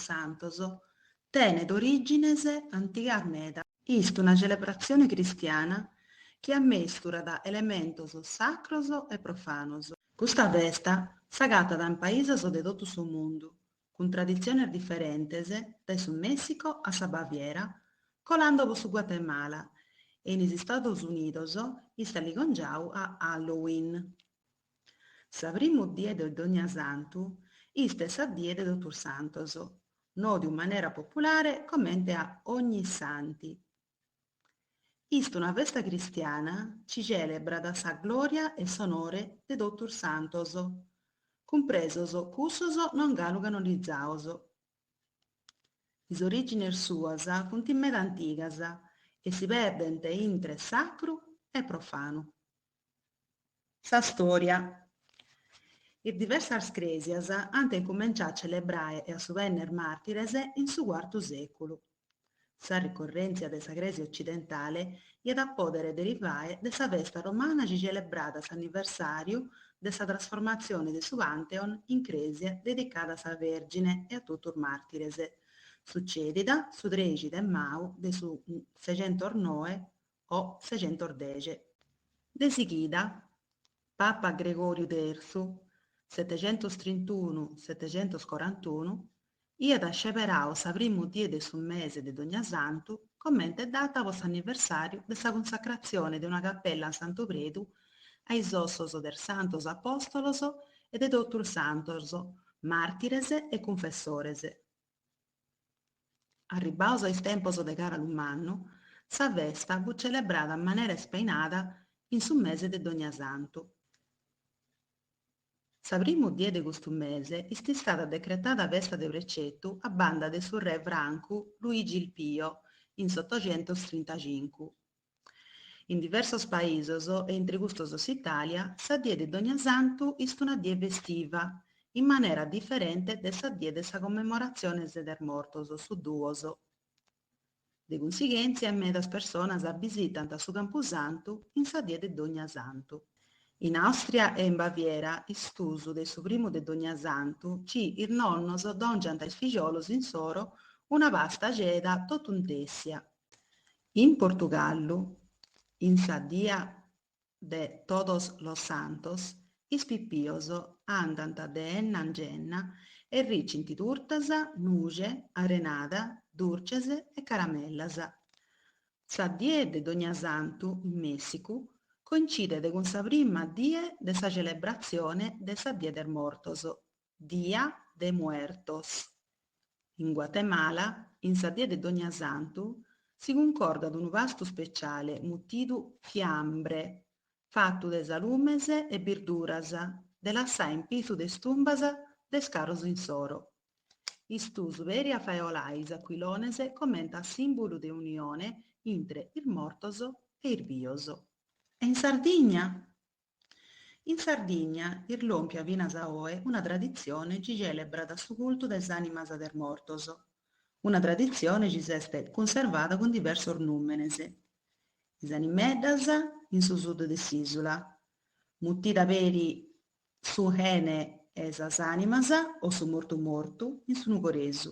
Santos, tenet orìgines antigas meda. Ist una celebratzione cristiana chi ammesturat elementos sacros e profanos. Custa festa s'agatat in paisos de totu su mundu, cun traditziones diferentes dae su Mèssicu a sa Baviera, colando pro su Guatemala e in is Istados Unidos ist ligongiadu a Halloween. Sa primu die de Dognasantu ist sa die de totus santos, nòdiu in manera populare comente a Ognissanti. Ist una festa cristiana ci celebrat sa gloria e s'onore de totus santos, cumpresos cussos non galu canonizados. Is origines suas funt meda antigas e si perdent intre sacru e profanu. Sa stòria. Is diversas crèsias ant incumenciau a celebrare e a subènnere màrtires in su cuartu sèculu. Sa ricorrèntzia de sa crèsia otzidentale iat a pòdere derivare de sa festa romana ci celebrat s'anniversàriu de sa trasformatzione de su Pantheon in crèsia dedicada a sa Vèrgine e a totu is màrtires, sutzèdida su trexi de mau de su sexentos noe o sexentos dexi. De sighida, Papa Gregòriu Tertzu, setecentos trintunu, setecentos corantunu, iat sceberadu sa primu die de su mese de Dognasantu comente data po s'anniversàriu de sa cunsacratzione de una capella a Santu Predu a is ossos de is Santos Apòstolos e de totus is Santos, màrtires e cunfessores. Arribbados a is tempos de Càralu Mannu, sa festa fut celebrada in manera ispainada in su mese de Dognasantu. Sa primu die de custu mese ist istada decretada festa de precetu a banda de su re francu Luigi il Pio in s'otoxentostrintacincu, In diversos paisos, e intre custos s'Itàlia, sa die de Dognasantu ist una die festiva, in manera diferente de sa die de sa commemoratzione der mortos, su duos. De cunsighèntzia medas personas bisitant su campusantu in sa die de Dognasantu. In Àustria e in Baviera ist usu de su primu de Dognasantu ci is nonnos dòngiant a is figiolos insoro una pasta axeda totu intèssia, In Portugallu, in sa dia de Todos los Santos, is pipios andant de enna in genna e ricint turtas, nuxe, arenada, durces e caramellas. Sa die de Dognasantu in Mèssicu coincidet cun sa prima die de sa celebratzione de sa Die der Mortos, Dia de Muertos. In Guatemala, in sa die de Dognasantu, si cuncordat unu pastu speciale mutidu fiambre, fatu de salumes e birduras, de lassai in pitzu de is tumbas de is caros insoro. Est usu peri a fae 'olai is aquilones comente a sìmbulu de unione intre is mortos e is bios. E in Sardigna? In Sardigna est lòmpia finas a oe una traditzione chi celebrat su cultu de is ànimas de is mortos, una traditzione chi s'est cunservada cun diversos nùmenes, is animeddas in su sud de s'ìsula, mutida peri su 'ene 'e sas ànimas o su mortu mortu in su nugoresu.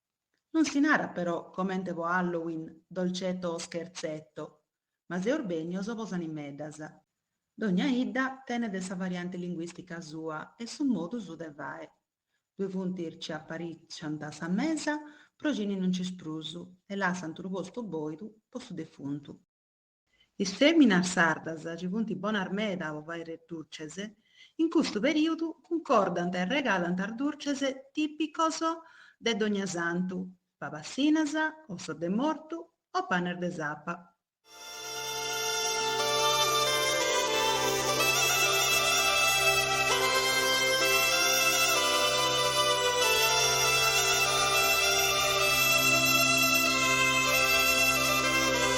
Non si narat però comente po Halloween dolcetto o scherzetto, ma seus bennios po is animeddas. Dogna 'idda tenet sa variante linguistica sua e su modu suu de fai. Ddue funt is ci appariciant sa mesa pro cini non nc'est prus e lassant unu postu boidu po su defuntu. Is fèminas sardas, chi funt bonas meda po fàiri durches, in custu perìudu cuncordant e regalant is durches tìpicos de Dognasantu, pabassinas, ossos de mortu o panes de sapa.